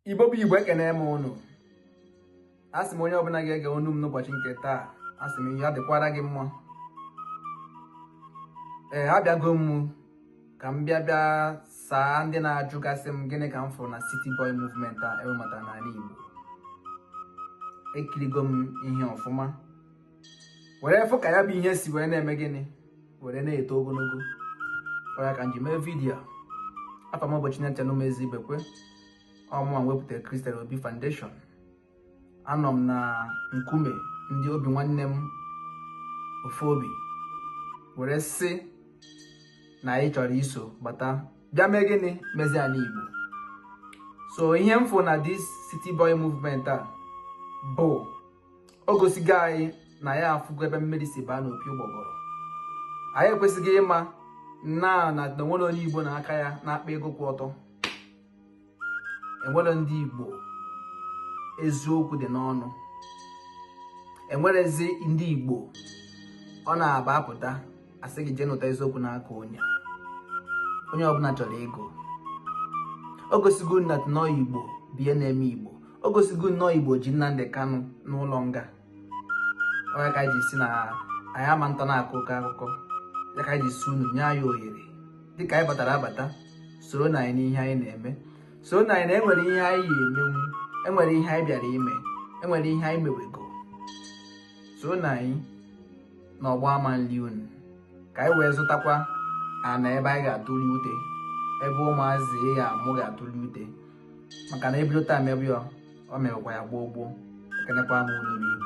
igbo bụ igbo ekene m unu asị m onye ọbụla ga-ege onu m n'ụbọchị nke taa asị m ya dịkwara gị mma ee abịago m ka m bịa bịa saa ndị na-ajụgasị m gịnị ka m fụrụ na City Boy movement a ewebata n'ala Igbo ekirigo m ihe ọfụma were fụ ka ya bụ ihe si wee na-eme gịnị were na-eto ogologo ọ ya ka nji mee vidiyo a afa m bụ Chinecherem Ezeibekwe ọ mụwa wepụtara Christian Obi Foundation anọ m na nkume ndị obi nwanne m ofu obi were sị na anyị chọrọ iso bata bịa mee gịnị mezie ala Igbo so ihe m fụ na this city boy movement a bụ o gosigo anyị na ya afụgo ebe mmiri si baa n'opi ụgbọgọrọ anyị ekwesịgo ịma na na enwere onye igbo na aka ya na-akpa ego kwụ ọtọ enwere ndị igbo eziokwu dị n'ọnụ enwerezi ndị igbo ọ na-abụ apụta asị gị jee nụta eziokwu n'aka onye onye ọbụla chọrọ ego o gosigo anyị na ọ igbo bụ ihe na-eme igbo o gosigo na ọ igbo ji Nnamdi Kanu n'ụlọ nga ọ ya ka nji sị na anyị ama atọ na-akọ oke akụkọ ọ ya ka nji sị unu nye anyị ohere dịka anyị batara abata soronụ anyị n'ihe anyị na-eme soronụ anyị na enwere ihe anyị ya-emenwu enwere ihe anyị bịara ime enwere ihe anyị mewego soronụ anyị na ọgba ama nri unu ka anyị wee zụtakwa ana ebe anyị ga-atụli ute ebe ụmụazị ya amụ ga-atụli ute maka na ebido taa mebe ya ọ mewekwa ya gboo gboo ekenekwa m unu ndeewo